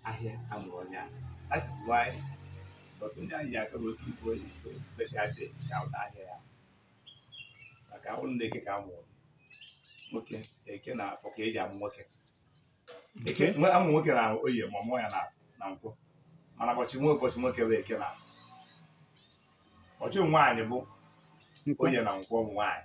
ahịa amụrụ onye ahụ that is why but ndị anyị ji achọ bụ oke ibu onye so special day ka ụta ahịa ya maka ụlọ na eke ka amụrụ nwoke eke na afọ ka eji amụ nwoke eke amụ nwoke na oye ma mụọ ya na nkwọ mana ụbọchị nwa ụbọchị nwoke bụ eke na afọ ụbọchị nwaanyị bụ oye na nkwọ ụmụ nwaanyị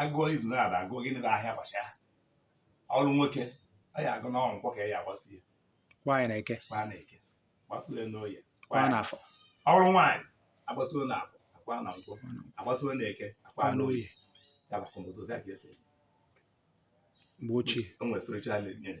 agụọ izu na ada agụọ gịnị bụ ahịa ụbọchị ahụ ọ bụrụ nwoke a ya agụ n'ọnwụ nkwọ ka ya agbasi ya kwa ya na eke kwa na eke gbasuo ya n'oye kwa ya n'afọ ọ bụrụ nwaanyị agbasuo na afọ akwa na nkwọ agbasuo na eke akwa na oye ya bụ akọmụzọ ya ka esi mgbe ochie o nwere spiritual meaning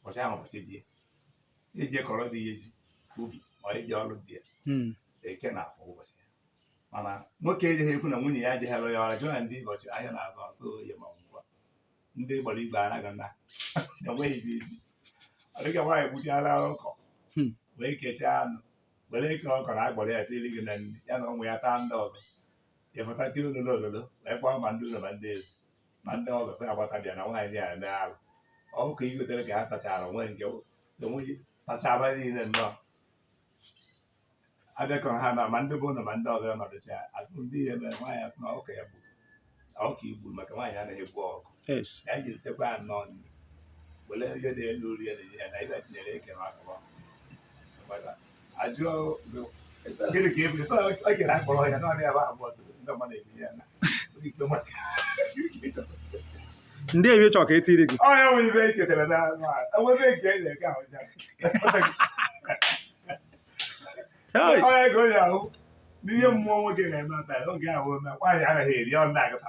ụbọchị ahụ ụbọchị di ya eji kọrọ di ya eje ubi ma eje ọrụ di ya hmm. eke na afọ ụbọchị ya mana nwoke ejeghị ekwu na nwunye ya adịghị alụ ya ọrụ jụọ na ndị ụbọchị ahịa na-azụ ọ sọ oye ma nkwọ ndị gbara igwe anaghị na enweghị dị eji ọ dịka nwaanyị gbuchara ọkụkọ hmm. wee kechaa anụ were eke ọkụkọ agbara ya tiri gị na nri ya na ụmụ ya taa ndị ọzọ ịpụta tie ololo ololo wee kpọọ ma ndị ụlọ ma ndị ezi ma ndị ọzọ sị gbata bịa na nwaanyị a eme arụ ọkụkọ e gotere ka ha tachara onwe nke onweghị tachaba niile nnọọ abịakọrọ ha na ma ndị bụ ụlọ ma ndị ọzọ nọdụcha ajụ ndị ihe mere nwaanyị asị na ọkụkọ ya gburu ọkụkọ igbu maka nwaanyị anaghị egbu ọkụkọ ya ji nsekwa ya nnọọ nri were ihe dị elu rie na ihe na ibe tinyere eke na ọkụkọ ndị ewe chọrọ ka etiri gị n'ihe mmụọ nwoke na-eme ọta oge ahụ ome nwaanyị anaghị eri ọ na-agụta